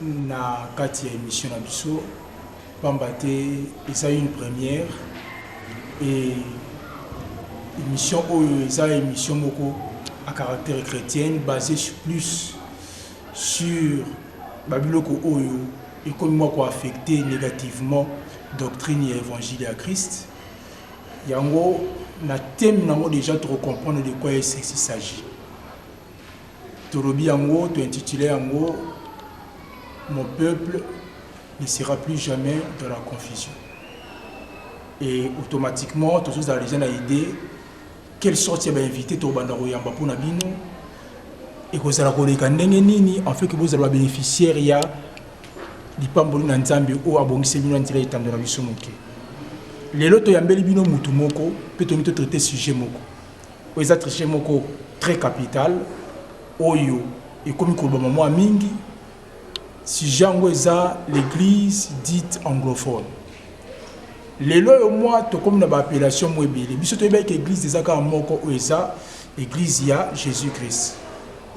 na kati ya emission na biso pamba te eza une première et emission oyo eza emission moko à caractère chretienne basée sur plus sur ba biloko oyo ekomi mwa ko affecter négativement doctrine ya évangile ya Christ yango na thème nango déjà toko comprendre de quoi est-ce qu'il s'agit Tolobi yango, to intituler yango Mon peuple ne sera plus jamais dans la confusion. Et automatiquement, tozo zala dejà na idee quelle sorte ya ba invités tokobanda koyamba mpo na bino ekozala koleka ndenge nini en fait que bozala ba bénéficiaires ya lipamboli na Nzambe oyo abongiseli bino na nzela ya etando na biso moke. Lelo toyambeli bino mutu moko mpe tolingi to traiter sujet moko. Oyo eza triche moko tres capital oyo ekomi kolobama mua mingi. Sujet yango eza l'eglise dite anglophone. Lelo oyo mua tokomi na ba appellation mua ebele. Biso toyebaki ke eglise eza kaka moko oyo eza eglise ya Jesus Christ.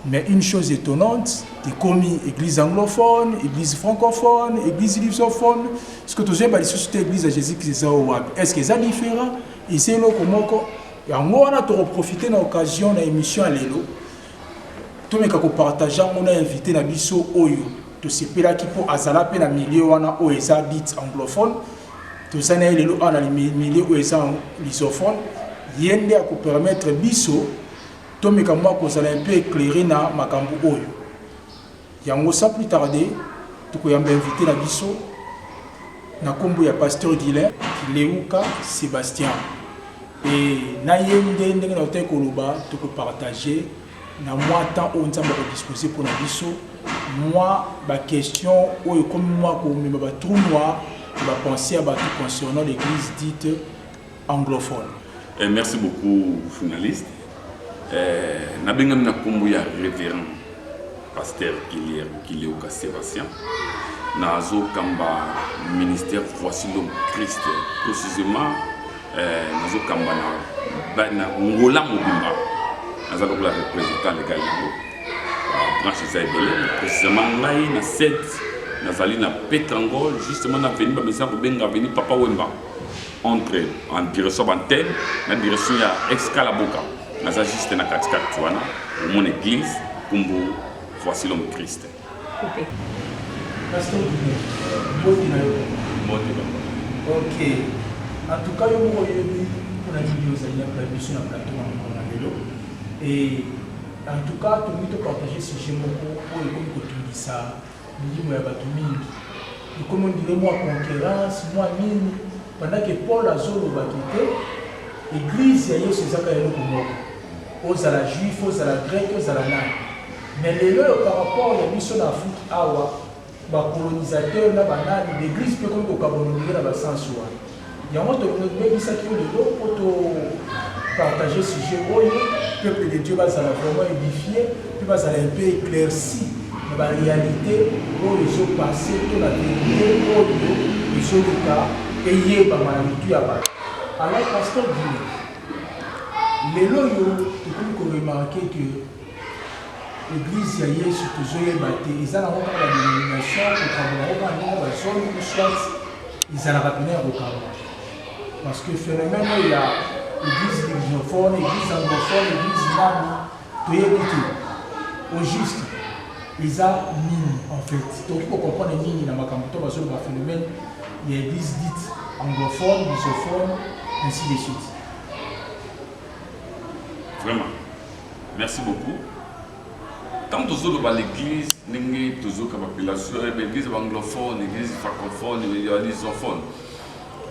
Mais une chose etonnante, ekomi eglise anglophone, eglise francophone, eglise lusophone, ce que tozo yeba lisusu te eglise ya Jesus Christ eza wapi? Est-ce que eza different? Eza eloko moko? Yango wana toko profiter na occasion na emission ya lelo tomeka ko partager yango na invité na biso oyo tosepelaki mpo azala mpe na milieu wana oyo eza dit anglophone toza na ye lelo awa na milieu oyo eza lusophone ye nde akopermettre biso Tomeka mua kozala un peu eclairer na makambu oyo. Yango sans plus tarder tokoyamba invite na biso na kombo ya Pasteur Guylain Kilewuka Sebastian et na ye nde ndenge nautaki koloba toko partager na mua temps oyo Nzambe ako disposer mpo na biso mua ba questions oyo ekomi mua komema ba trous noirs ya ba pensees ya batu concernant l'eglise dite anglophone. Eh, merci beaucoup journaliste eh, nabengami na nkombo ya révérend pasteur kilier kileuka sébastien nazokamba ministère voici l'homme christ précisément eh, nazokamba na, na ngola mobimba naza lokola représentant legal yango branche eza ebele précisément ngai na 7 nazali na petrangol justement na veni bamesana kobenga veni papa wemba entre en direction bantene na direction ya excalaboka naza juste na katikati wana omona eglise kumbu voici l'homme christ okay. okay. en tout cas yo moko oyebi mpona nini ozali na biso na plateau na mokolo na lelo e en tout cas tolingi topartage sujet moko oyo ekomi kotungisa Milimo ya batu mingi ekomi on dirait mua conquerance mua nini pendant que Paul azo loba que te eglise ya Yesu eza kaka eloko moko ozala juif ozala grec ozala nani mais lelo oyo par rapport ya biso na Afrique awa ba colonisateur na ba nani l'eglise pe ekomi ko kabola on dirait na ba sens wana Yango to bengisaki yo lelo po to partager sujet oyo peuple de Dieu ba zala vraiment edifie pe ba zala un peu eclairci na ba realite oyo ezo passer to na verite oyo ezo luka eyebama na mitu ya batu. Alors pasteur Guilly, lelo oyo to komi ko remarquer que eglise ya Yesu tozo yeba te eza nango kaka ba denomination ko kamba bango kaka ndenge ba zoni ou soit Ezalaka pena ya kokanga parce que phénomène oyo ya église lusophone, église anglophone, église nani toyebi te au juste eza nini en fait tokoki kocomprendre nini na makambo to bazoloba phénomène ya église dite anglophone lusophone ainsi de suite vraiment merci beaucoup Tango tozo loba l'eglise ndenge tozo yoka ba pelation eh, ba eglise ba anglophone, eglise francophone, ya lusophone.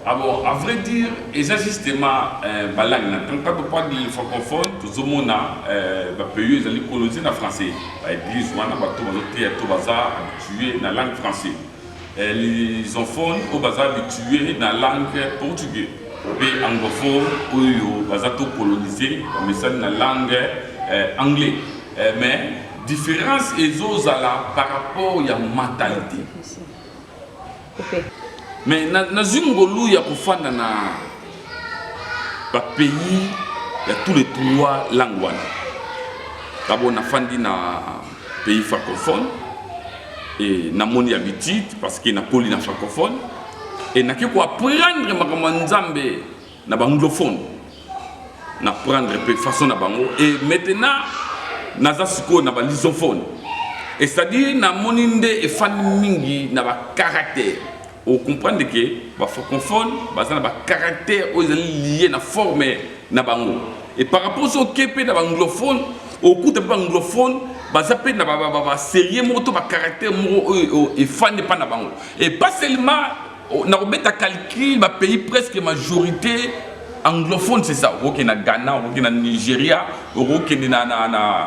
Ah bon, à vrai dire, eza justement euh, ba langue na quand on parle de francophone, tozo mona euh, ba pays ezali coloniser na français. Ba eglise wana bato bazo teya to baza habitué na langue français. Lisophones oyo baza habituer na langue portugais mpe anglophones oyo baza to colonise bamesani na langue anglais mais difference ezo zala par rapport ya mentalite mais nazui ngolu ya kofanda na ba pays ya tous les trois langues wana d'abord nafandi na pays francophone et namoni habitude parce que nakoli na francophone et nake koapprendre makambo ya nzambe na baanglophone na prendre mpe façon na bango et maintenant naza sikoyo na balisophone et c'est-à-dire namoni nde efandi mingi na bacaractère o comprendre que ba francophones baza na ba caractères oyo ezali lié na forme na bango et par rapport so oke mpe na ba anglophone okuta mpe ba anglophone baza mpe na baserie moko to bacaractère moko oyo efandi mpa na bango et pas seulement oh, na kobeta calcul bapays presque majorité anglophone c'est ça okokende na ghana okokende na nigeria okokende na, na, na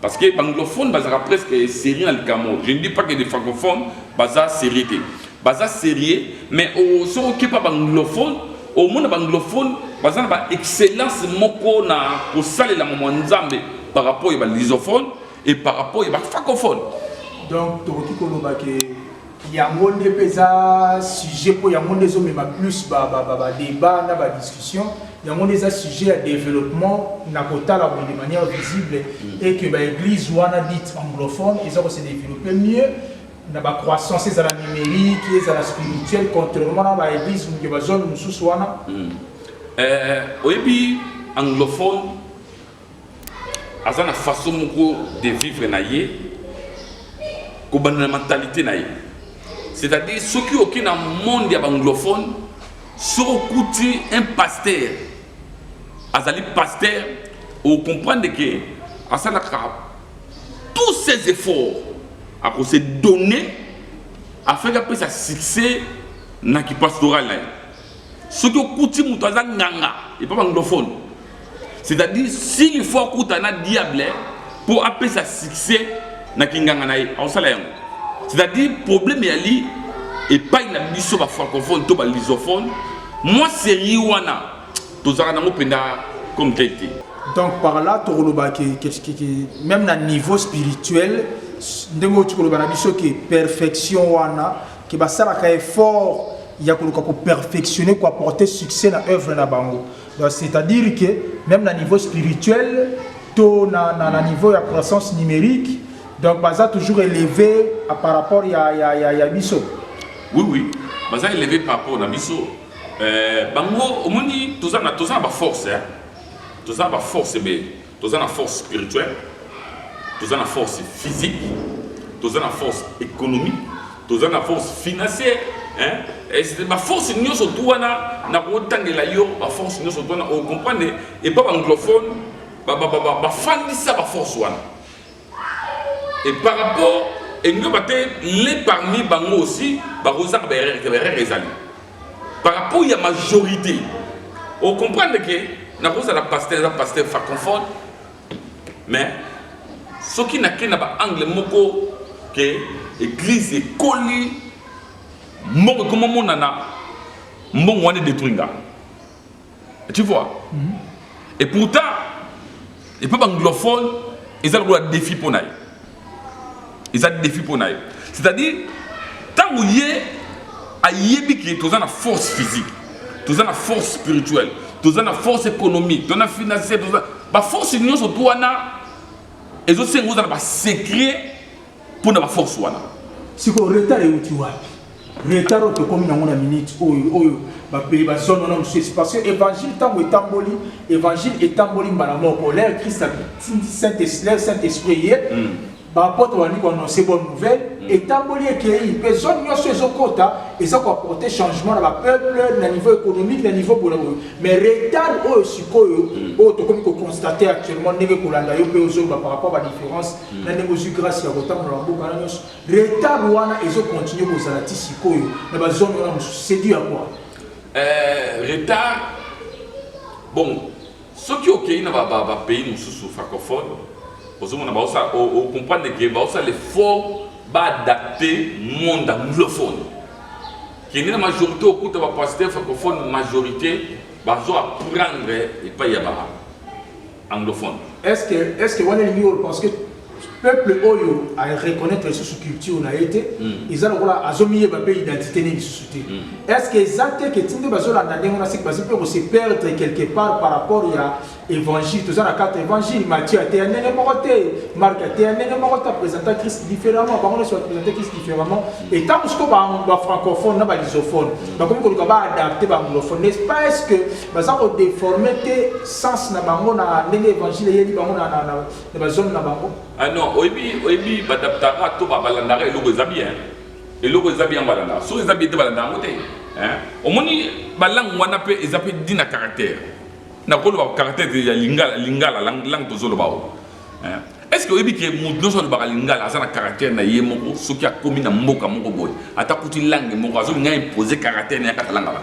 Parce que b'anglophones bazalaka presque sérieux na likambo. Je ne dis pas que des francophones baza sérieux te. Baza sérieux, mais au soki oke pa b'anglophones, omona b'anglophones baza na ba excellence moko na kosalela mwa nzambe par rapport ya ba lusophones et par rapport ya ba francophones. Donc tokoki koloba ke Yango nde mpe eza sujet mpo yango nde ezomema plus ba ba ba ba debat na ba discussion yango nde eza sujet ya developpement na kotala boye de manière visible et que ba eglise wana dite anglophone eza ko se developper mieux na ba croissance ezala numerique ezala spirituel contrairement na ba eglise ya ba zone mosusu wana Euh, oyebi anglophone aza na façon moko de vivre na ye kobanda na mentalité na ye c'est-à-dire soki oki na monde ya baanglophone soki okuti un pasteur azali pasteur ocomprendre ke asalaka tous ses efforts akose donner afin apesa succès na kipastoral na ye soki okuti moto aza nganga epa banglophone c'est-à-dire s'il faut akuta na diable mpo apesa succès na kinganga na ye akosala yango c'est-à-dire problème eyali epai na biso bafrancophone to balisophone mwa serie wana tozalaka nango mpenza comme tel te donc par là tokoloba ke même na niveau spirituel ndenge oti koloba na biso ke perfection wana que basalaka effort ya koluka ko perfectionner ko apporter succès na œuvre na bango donc c'est à dire que même na niveau spirituel to na, na, na niveau ya croissance numérique donc baza toujours élevé par rapport ya, ya, ya, ya biso oui oui baza élevé par rapport na biso euh, bango omoni toza na toza na ba force hein? toza na ba force ebele Toza na force spirituelle, toza na force physique, toza na force économique, toza na force financière, hein? Eh, ba force nyonso tu wana na kotangela yo ba force nyonso tu wana o comprendre et pas anglophone ba ba ba ba fandisa ba force wana et par rapport elingi oloba te les parmi bango aussi bakozaka baerreur te baerreur ezali par rapport ya majorité ocomprendre ke nakozala pasteur eza pasteur faconfone mais soki nake na baangle moko ke église ekoli mbongo ekomomonana mbongo wana edetruinga tu vois mm -hmm. et pourtant et pas anglophone eza lokola défi mpo na ye eza défi mpo na ye c'est-à-dire ntango ye ayebi ke toza na force physique toza na force spirituelle toza na force économique toza na financière toza baforce nyonso to wana ezosenga ozala basecret mpo na baforce wana sikoyo retard euti wapi retard oyo tokomi nango na minute oyo oyo bapeye bazono na mosusu parce que évangile ntango etamboli évangile etamboli mbala moko lere krist lere saint esprit ye hmm. baapotre bandi koannonce bonne nouvelle hmm. etamboli ekei mpe zone nyonso ezokota eza koaporte changement na bapeuple na niveau économique na niveau boye boye mais retard oyo sikoyo hmm. oyo tokomi koconstate actuellement ndenge kolanda yo mpe ozoloba par rapport badifférence na ndenge ozwi grâce ya kotambola na mboka na nyonso retard wana ezo continue kozala ti sikoyo na bazone wana mosusu c'est dû à quoi euh, retard bon soki okei na bapays mosusu francophone ozomona baosala ocomprendre ke baosala l'effort baadapte monde anglophone kende na majorité okuta bapasteur francophone majorité bazo apprendre epai ya ba Anglophone. Est ce que est ce que wana elingi oloba parce que peuple oyo a reconnaître lisusu culture na ye te eza lokola azomiyeba mpe identité ne lisusu te est ce que eza te ke tinde bazolanda ndenge wana siki bazi mpe kose perdre quelque part par rapport ya évangile toza na carte évangile matthieu ateya ndenge moko te marc ateya ndenge moko te apresenta christ différemment bango nyonso bapresenta christ différemment et ntango siko bafrancophone na balisophone bakomi koluka baadapte baanglophone n'est ce pas est ce que Baza ko deformer te sens na bango na ndenge evangile eyeli bango na na na ba zone na bango. Ah non, oyebi oyebi ba adaptaka to ba balandaka eloko eza bien. Eloko eza bien balandaka. Soki eza bien te balanda yango te. Hein? Omoni ba langue wana pe eza pe dit na caractère. Na ko loba caractère ya lingala lingala langue langue tozo loba o. Hein? Est ce que oyebi ke mutu nionso alobaka lingala aza na caractère na ye moko soki akomi na mboka moko boye ata kuti langue moko azo linga imposer caractère na ye kaka langa ba.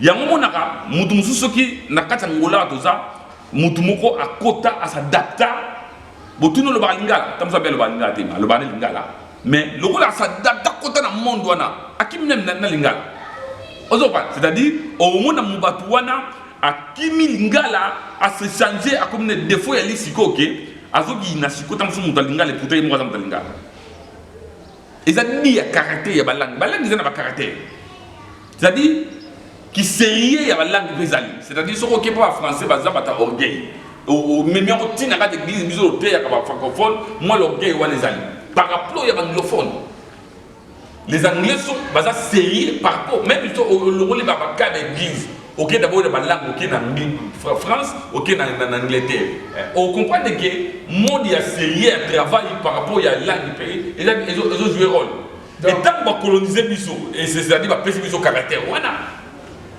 yango omonaka moto mosusu soki na kati ya ngolaa toza moto moko akota asadapta botuni olobaka lingala ta mosu abe alobaka lingala te alobaka na lingala mais lokola asadapta akota na monde wana akimi na lingala ozopa c'est-à-dire omona mo bato wana akimi lingala ase change akomi na defo ya lisiko oke okay? azokiyina siko ta mosu moto ya lingala eputa ye moko aza moto ya lingala eza ni ya caractère ya balangi balangi eza na bacaractère C'est-à-dire kiserieux ya balangue mpe ezali c'est-à-dire soki oke mpo bafrançais baza bata orgueil omemi yango ntina kati eglise biso oteyaka bafrancophone mwa l'orgueil wana ezali par rapport ya baanglophone les anglais so baza sérieux par rapport même so olongoli babaka na église oke dabord na balangue oke na france oke na angleterre eh, ocomprendre ke mode ya sérieux ya travail par rapport ya langue mpe ezojoue role mais tango ba colonise biso ezali ba pesi biso caractère wana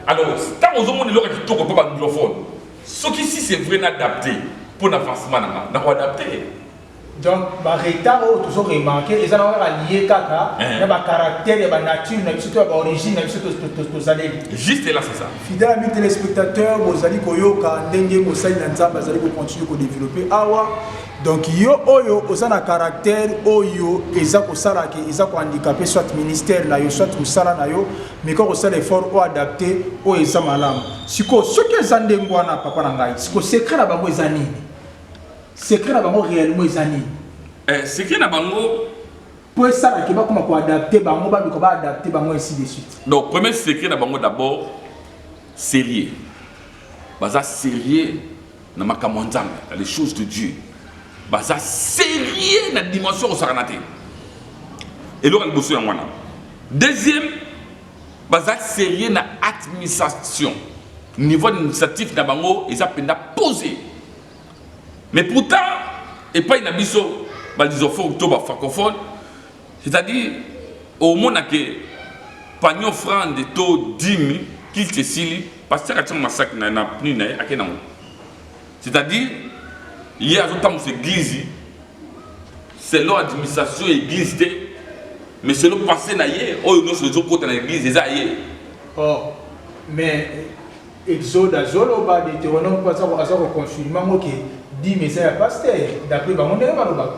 alors tango ozo mona eloko ya kitoko mpo ba anglophone soki si c'est vrai na adapte mpo na avancement na nga na ko adapte donc ba retard oyo tozo remarque eza na kaka liye kaka eh. na ba caractère ya ba nature na biso to ya ba origine na biso tozaleli juste là c'est ça fidèle ami téléspectateur bozali koyoka ndenge mosali na nzambe azali kocontinue kodéveloppe awa Donc yo oyo oza na caractère oyo eza kosala ke eza ko handicaper soit ministère na yo soit musala na yo mais ko kosala effort o adapter oyo eza malamu siko soki eza ndenge wana papa na ngai siko secret na bango eza nini secret na bango réellement eza nini eh, secret na bango mpo esalaki bakoma koadapte bango baluka baadapte bango ainsi de suite donc premier secret na bango d'abord sérieux baza sérieux na makambo ya nzambe na les choses de dieu baza serieux na dimension kosakana te eloko ya liboso yango wana deuxième baza serieux na administration niveau administratif na bango eza mpenza posé mais pourtant epai na biso balisofone to bafrancophone C'est-à-dire, omona ke panier offrande to dimi kilte esili pasteur atiango masaki na na pni na ye ake nango c'est-à-dire ye azotambusa eglise selon administration ya eglise te mais selon pensée na ye oyo nyonso ezokota na eglise eza ye oh, mais exode azoloba deuteronome mpo aza koconfirme yango ke dime eza ya pasteur d'après bango ndenge balobaka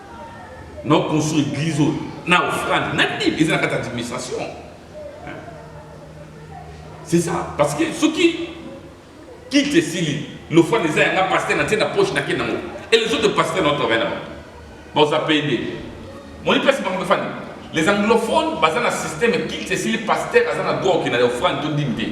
Non construire église oyo na offrande na nini eza na kati administration hein? c'est ça parce que soki kite esili l'offrande eza yanga pasteur na tie na poche na ke nango et les autres pasteurs nao travaille na bango baoza paye nde moni place bango bafani les anglophones baza na système kite esili pasteur aza na droit okenda na offrande to ndini te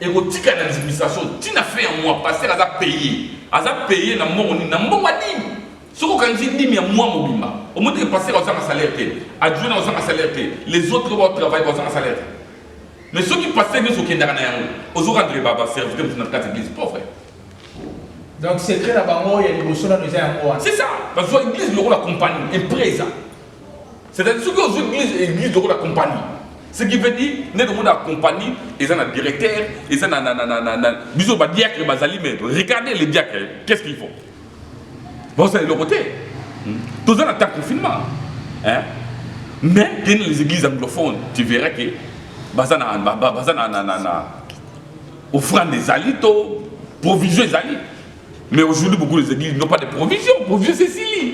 ekotika na administration ntina fin ya mois pasteur aza paye aza paye na mbongo nini na mbongo ya nini soki okanisi dime ya mwa mobimba omoni ke pasteur azanga salaire te adjoint na ozanga salaire te les autres ba travail bazanga salaire te mais soki pasteur nyonso okendaka na yango ozo rendre baba service te mosu na kati église pauvre donc secret na bango ya liboso nano eza yango wana c'est ça bazwa église lokola compagnie empresa c'est-à-dire soki ozwa église église lokola compagnie ce qui veut dire nde tomona ya compagnie eza na directeur eza na biso badiacre bazali mais regardez les diacre qu'est ce qu'il faut bazosala eloko te toza na temps confinement hein? mais kende les églises anglophones tu verras que baza na baza na na na offrande ezali to provision ezali mais aujourd'hui beaucoup les églises n'ont pas de provision provision c'est sili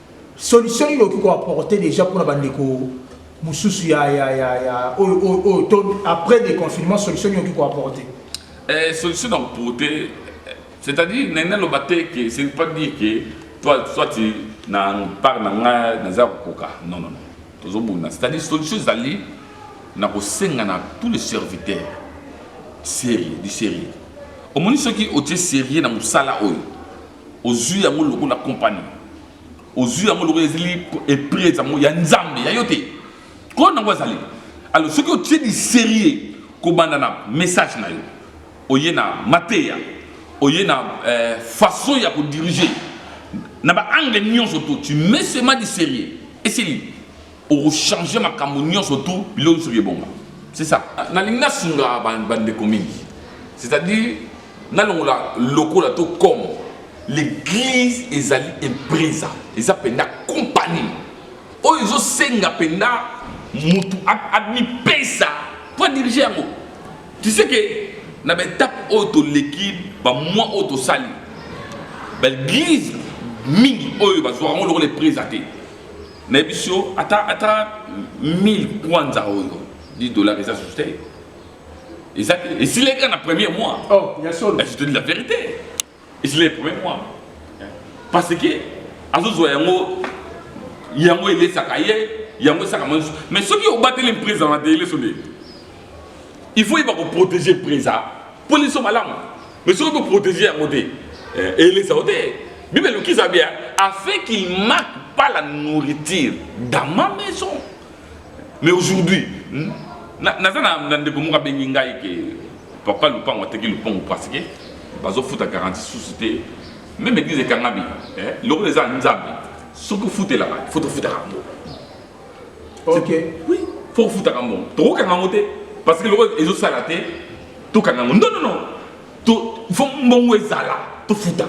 Solution nini okoki ko apporter dejà pona ba ndeko mususu ya ya ya ya oyo oyo oyo to après le confinement solution nini okoki ko apporter? Eh, solution na porter c'est-à-dire na nalo ba te que ce n'est pas dire que toi soit tu na part na nga na za koka non non non tozo bunda c'est-à-dire solution ezali na ko senga na tous les serviteurs sérieux du sérieux omoni soki otie sérieux na musala oyo Ozui yango lokola company. Ozui yango lokola ezali epresa yango ya nzambe ya yo te. Ko nango azali. Alors soki otie du serieux kobanda na message na yo oye na mateya oye na eh, façon ya ko diriger na ba angle nionso to tu mets seulement du serieux esili Oko changer makambo nionso tout biloko nionso bi ebonga. C'est ça. Nalingi na sunga ba ndeko mingi. C'est à dire na longola lokola to comme l'eglise ezali empresa eza penda compagnie oyo ezo senga penda mutu ami pesa po diriger yango. Tu sais que na ba etape oyo to leki ba mois oyo to sali ba eglise mingi oyo ba zwaka ngo lokola empresa te. Mais biso ata ata 1000 kwanza oyo 10 dollars eza sous te. Eza et si les gars na premier mois. Oh, ya solo. Je te dis la vérité. Et si les premiers mois. Parce que azo zo yango yango elesaka ye yango esaka mwa nyonso mais soki obateli mpreza na deleso nde il faut yeba koprotege mpreza mpo liso malamu Mais soki to protéger yango te, eh, elesa yo te. Bible eloki Zabia afin qu'il manque pas la nourriture dans ma maison. Mais aujourd'hui, hmm, naza na ndeko moko abengi ngai ke papa lupango ateki lupango parce que bazofuta garantie susu te meme eglise ekangami eh, lokola eza nzambe soki ofutelaka foto ofutaka yango okay. oui. fo kofutaka mbongo tokokanga yango te parce que lokola ezosala te tokanga yango non non non to fo mbongo ezala tofuta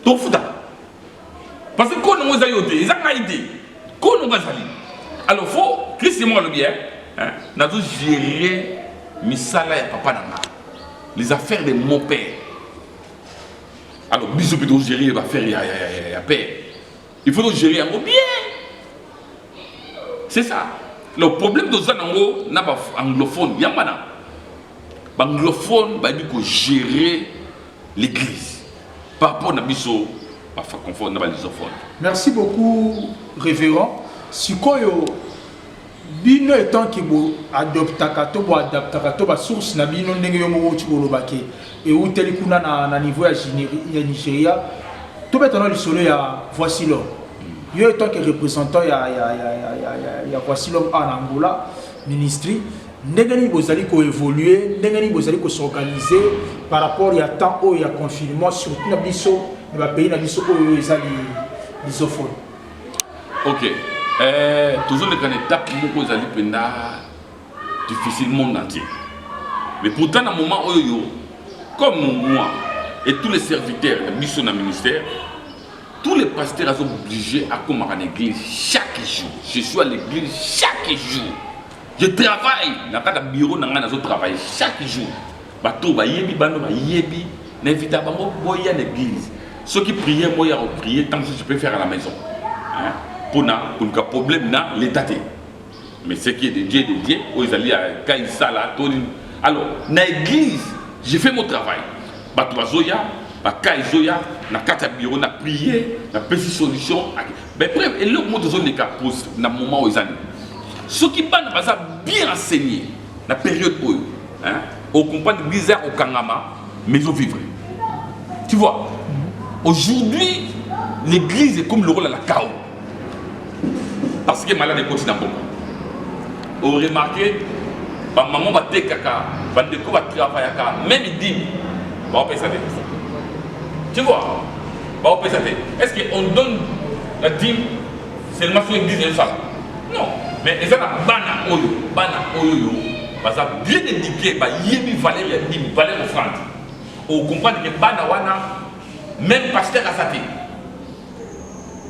tofuta parce que koo nango eza yo te eza ngai te koo nango azali alors fo krist ye moko alobi e nazo gérer misala ya papa na nga les affaires de mon père alors biso mpe togérer baaffaire ya père Il faut gérer yango bien. C'est ça. Le problème de Zanango, na ba anglophone, yamana. Ba anglophone ba dit que gérer l'église. Par rapport na biso ba francophone na ba lusophone. Merci beaucoup révérend. Sikoyo Bino etant que bo adoptaka to bo adaptaka to ba sources na bino ndenge yo moko outi koloba que ewuteli kuna na na niveau ya ya Nigeria, tobeta nao lisolo ya Voici l'homme. Yo etant que representant ya ya ya ya ya ya ya Voici l'homme awa na Angola, ministry, ndenge nini bozali ko evoluer, ndenge nini bozali ko s'organiser par rapport ya temps oyo ya confinement surtout na biso na ba pays na biso oyo eza li lusophone? ok eh, tozoleka na etape moko ezali mpenza difficile monde entier mais pourtant na moment oyo yo comme moi et tous les serviteurs na biso na ministère tous les pasteurs aza obligé akomaka na église chaque jour je suis à l'église chaque jour je travaille na kati ya bureau na ngai nazotravaille chaque jour Bato oyo bayebi bana bayebi na invita bango boya na eglise soki prière boya ko prière tant que tu peux faire à la maison hein pour na koluka problème na l'état te mais ce qui est de Dieu de Dieu oyo ezali ya kai sala to alors na église j'ai fait mon travail bato bazoya bakai ezoya na kati ya bureau na prière na pesi solution mais preuve eloko moto ezoleka na moment oyo eza nini soki bana baza bien enseigné na période oyo hein au comprendre bizarre au kangama mais au vivre tu vois aujourd'hui l'église est comme le rôle à la chaos parce que malade est continent bon au remarquer ba maman ba tekaka ba ndeko ba travaillaka même dit ba opesa te tu vois ba opesa te est-ce que on donne la dîme seulement sur l'église de ça Non, mais eza na bana oyo, bana oyo yo, baza bien éduqués, ba yebi valeur ya dime, valeur offrande. Au comprendre que bana wana, même pasteur aza te.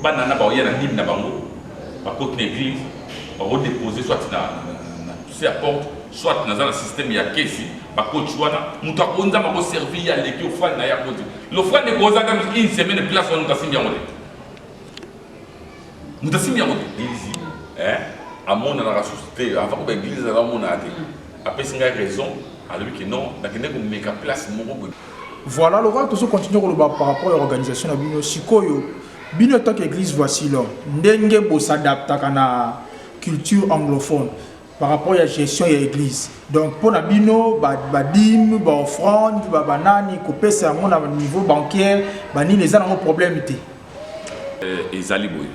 Bana na ba oya na dime na bango, ba kote na église, ba ko déposer soit na, na, na, na porte, soit naza na système ya kesi, ba coach wana, mutu akonza ma ko servir ya leki offrande na ya kote. L'offrande ekozaka une semaine place wana kasi yango leki. moto asimbi yango te eglise amonanaka susu te avant koba eglise aza amonana te apesi ngai raison alobi ke non nakende komeka place moko boye voilà lokola tozo continue koloba par rapport ya organisation na bino sikoyo bino etant que église voici l'homme ndenge bosadaptaka na culture anglophone par rapport ya gestion ya église donc mpo na bino badime baoffrande ba banani kopesa yango na niveau bancaire banini eza nango problème te euh, ezali boye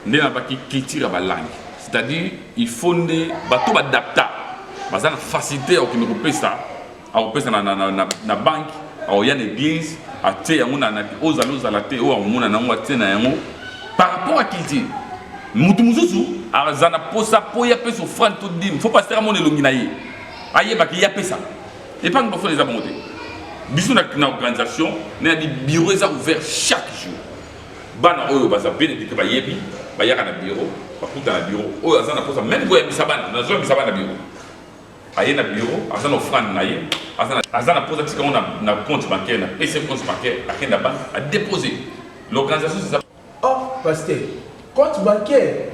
nde na baki culture ya balangue c'est-à-dire il faut nde bato badapta baza na facilité ya kokende kopesa akopesa na, na, na, na, na banki akoya na eglise atie yango na napi ozala ozala te oyo akomona nango atie na yango par rapport à culture motu mosusu aza na posa mpo ye apesa ofrande to dime fo pasteur amona elongi na ye ayebaki ye apesa epangi bafona eza bango te biso na organisation na ya bibiro eza ouvert chaque jour bana oyo baza benedike bayebi bayaka na biro bakuta na biro oyo aza na posa meme koyambisa bana nazwa yambisa bana biro Aye na bureau aza na offrande na ye aza na aza na posa tika na na compte bancaire na PC compte bancaire akenda banque a déposer l'organisation c'est ça. Oh pasteur compte bancaire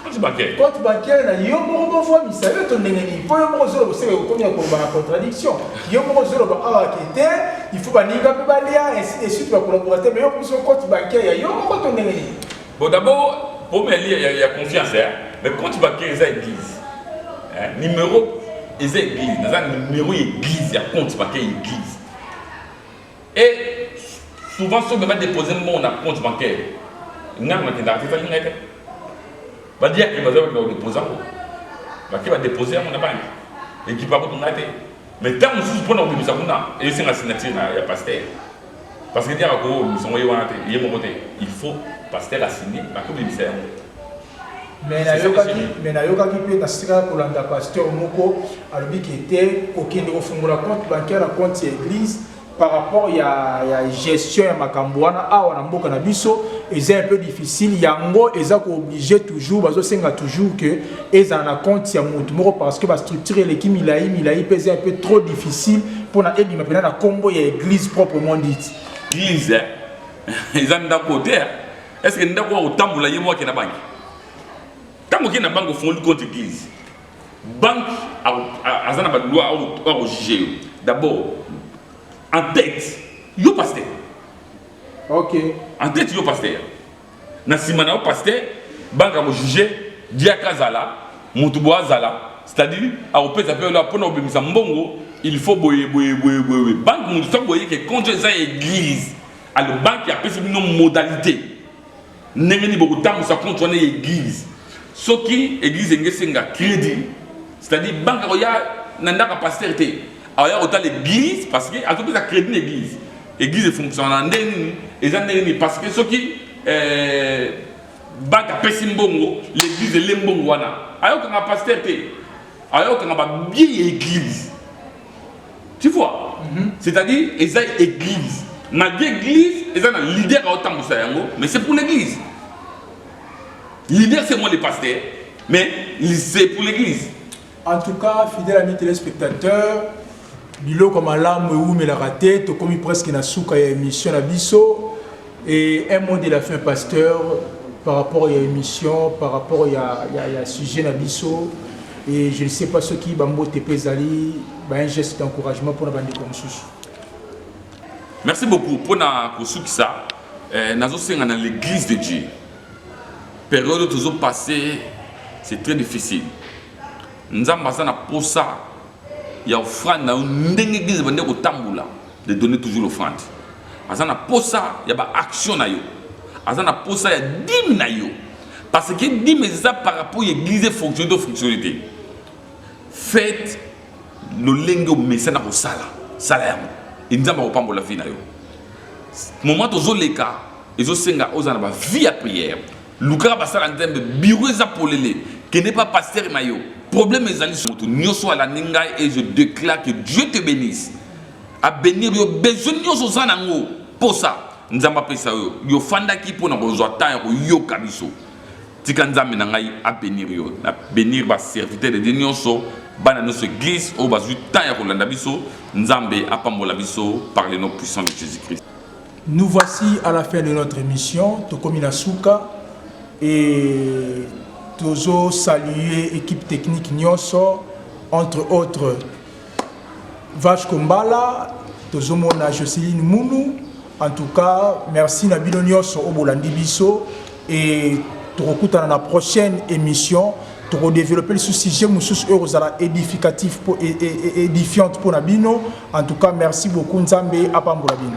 compte bancaire compte bancaire na yo moko bovwa misayo to ndenge nini mpo yo moko ozoloba oseka okomi ya koloba na contradiction yo moko ozoloba awa ke te il faut baninga mpe balia ainsi de suite bakolaborate mais yo okomi so compte bancaire ya yo moko to ndenge nini Bon d'abord problème ya lia ya, ya confiance hein? mais compte bancaire eza église hein? numéro eza église naza numéro ya église ya compte bancaire ya église et souvent soki baba dépose mbongo na compte bancaire ngai nakendaka te ezali ngai te badiyaki baza bakenda kodépose yango bake badépose yango na banki ekipa kutu ngai te mais ntango mosusu mpo na kobimisa kuna esenga signature ya pasteur Parce que diaka ko bimisa ngo ye wana te ye moko te il faut pasteur a signe ba ko bimisa yango. Mais na yokaki mais na yokaki pe na sika ko landa pasteur moko alobi ke te ko kende ko fungola compte bancaire na compte ya eglise par rapport ya, ya gestion ya makambo wana awa na mboka na biso eza un peu difficile yango eza kooblige toujours bazosenga toujours que ezala na compte ya moto moko parce que bastructure eleki milai milai mpe eza mpe trop difficile mpona ebima mpena na nkombo ya église proprement dite église eh? eza ndako te eh? est ce que ndako ya kotambola ye moko akenda banki ntango okei na banki ofungoli compte église banki aza na baloi akojuge yo d'abord en tête yo pasteur ok en tête yo pasteur na sima na yo pasteur banga ko juger diaka azala mutu bo azala c'est-à-dire akopesa pe ola pona obimisa mbongo il faut boye boye boye boye banque mutu soki boye ke konjo eza ya église alors banque apesi bino modalité ndenge nini bokotambusa compte wana ya église soki église enge esenga crédit c'est-à-dire banque akoya na ndako ya pasteur te akoya kotala église parce que azopesa crédit na église Eglise efungusama na ndenge nini? Eza ndenge nini? Parce que soki eh, baka pesi mbongo, l'église ele mbongo wana. Ayokanga pasteur te. Ayokanga ba billets ya église. Tu vois? Mm -hmm. C'est-à-dire eza église. Malgré église, eza na leader à otambusa yango, mais c'est pour l'église. Leader c'est moi le pasteur, mais c'est pour l'église. En tout cas fidèle ami telespectateur biloko malamu ewumelaka te tokomi presque na suka ya émission na biso et un mot de la fin pasteur par rapport ya émission par rapport ya, ya, ya sujet na biso et je ne sais pas soki bambote mpe ezali ba un geste d'encouragement mpona bandeko mosusu merci beaucoup mpona kosukisa eh, nazosenga na l'église de dieu Periode oyo tozo passe c'est très difficile nzambe aza na posa ya offrande na yo ndenge eglise ebandi kotambola de donner toujours l'offrande aza na posa ya ba action na yo aza na posa ya dime na yo parce que dime eza par rapport ya église fonctionne to fonctionne te faites lolenge omesana kosala sala yango e nzambe akopambola vie na yo moment tozoleka ezosenga ozala na ba vie ya prière lukaka basala nzambe bureau eza polele kende pa pasteur na yo problème ezali moto nyonso alandi ngai et je déclare que dieu te bénisse abenir yo besoin nyonso oza na yango posa nzambe apesa yo yo ofandaki mpo na kozwa temps ya koyoka biso tika nzambe na ngai abenir yo na benir baserviteur de dieu nyonso bana nyonso église oyo bazwi temps ya kolanda biso nzambe apambola biso par le nom puissant de jésus christ Nous voici à la fin de notre émission tokomi na suka et tozo saluer équipe technique nyonso entre autres Vache Kombala tozomona Joceline Munu en tout cas merci na bino nyonso obolandi biso et tokokutana na prochaine émission tokodévelopper lisusu sujet mosusu oyo ekozala édificatif mpo e, e, e, édifiante mpo na bino en tout cas merci beaucoup nzambe apambola bino